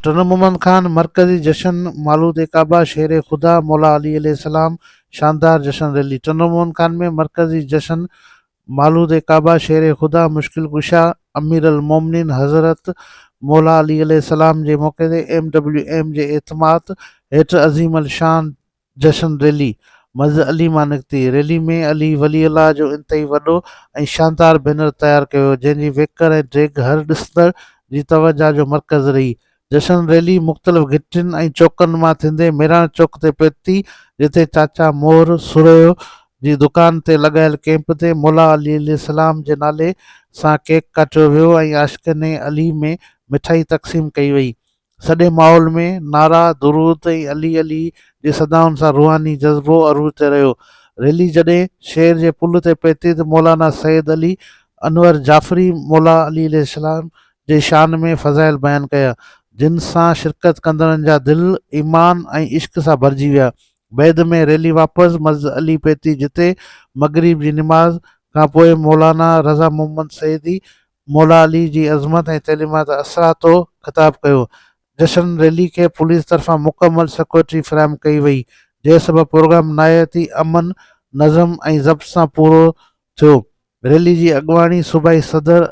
ٽن محمد خان مرڪزي جشن مالود عقابه شير خدا مولا علي عليه السلام شاندار جشن ريلي ٽن محمد خان ۾ مرڪزي جشن مالود عقابه شير خدا مشڪل ڪشا امير المومنين حضرت مولا علي عليه السلام جي موقعي تي ايم ڊبليو ايم جي اعتماد هيٺ عظيم الشان جشن ريلي، مسجد علي مان نڪتي، ريلي ۾ علي ولي الله جو انتهائي وڏو ۽ شاندار بينر تيار ڪيو ويو، جنهن جي ويڪر ۽ ڊيگهه هر ڏسندڙ جي توجهه جو مرڪز رهي. جشن ريلي مختلف گهٽين ۽ چوڪن مان ٿيندي ميراڻ چوڪ تي پهتي، جتي چاچا مور سورهيو جي دڪان تي لڳايل ڪئمپ تي مولا علي عليه السلام جي نالي سان ڪيڪ ڪاٽيو ويو ۽ عاشقين علي ۾ مٺائي تقسيم ڪئي وئي. سڄي ماحول ۾ نعرا، درود ۽ علي علي جي صدائن سان روحاني جذبو عروج تي رهيو. ريلي جڏهن شهر جي پل تي پهتي ته مولانا سيد علي انور جعفري مولا علي عليه السلام جي شان ۾ فضائل بيان ڪيا، جن سان شرڪت ڪندڙن جا دل ايمان ۽ عشق سان ڀرجي ويا. بعد ۾ ريلي واپس مسجد علي پهتي جتي مغرب جي نماز کانپوء مولانا رضا محمد سيدي مولا علي جي عظمت ۽ تعليمات اثراتو خطاب ڪيو. جشن ريلي کي پوليس طرفان مڪمل سيڪيورٽي فراهم ڪئي وئي جنهن سبب پروگرام نهايتي امن نظم ۽ ضبط سان پورو ٿيو. ريلي جي اڳواڻي صوبائي صدر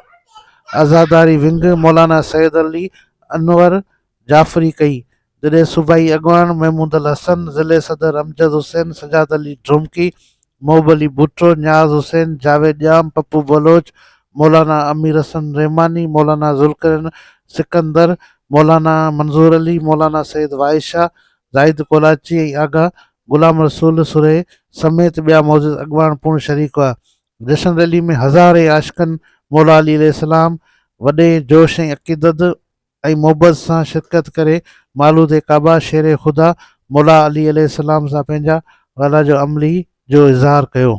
عزاداري ونگ مولانا سيد علي انور جعفري ڪئي، جڏهن صوبائي اڳواڻ محمود الحسن، ضلعي صدر امجد حسين، سجاد علي ڍومڪي، محب علي ڀٽو، نياز حسين، جاويد ڄام، پپو بلوچ، مولانا امير حسن رحماني، مولانا ذوالقرنين سڪندر، مولانا منظور علي، مولانا سيد واحد شاهه، زاهد ڪولاچي ۽ آغا غلام رسول سرهي سميت ٻيا معزز اڳواڻ پڻ شريڪ هئا. جشن ريلي ۾ هزارين عاشقن مولا علي عليه السلام وڏي جوش ۽ عقيدت ۽ محبت سان شرڪت ڪري مولود ڪعبه شير خدا مولا علي عليه السلام سان پنهنجا وئلا جو عملي جو اظهار ڪيو.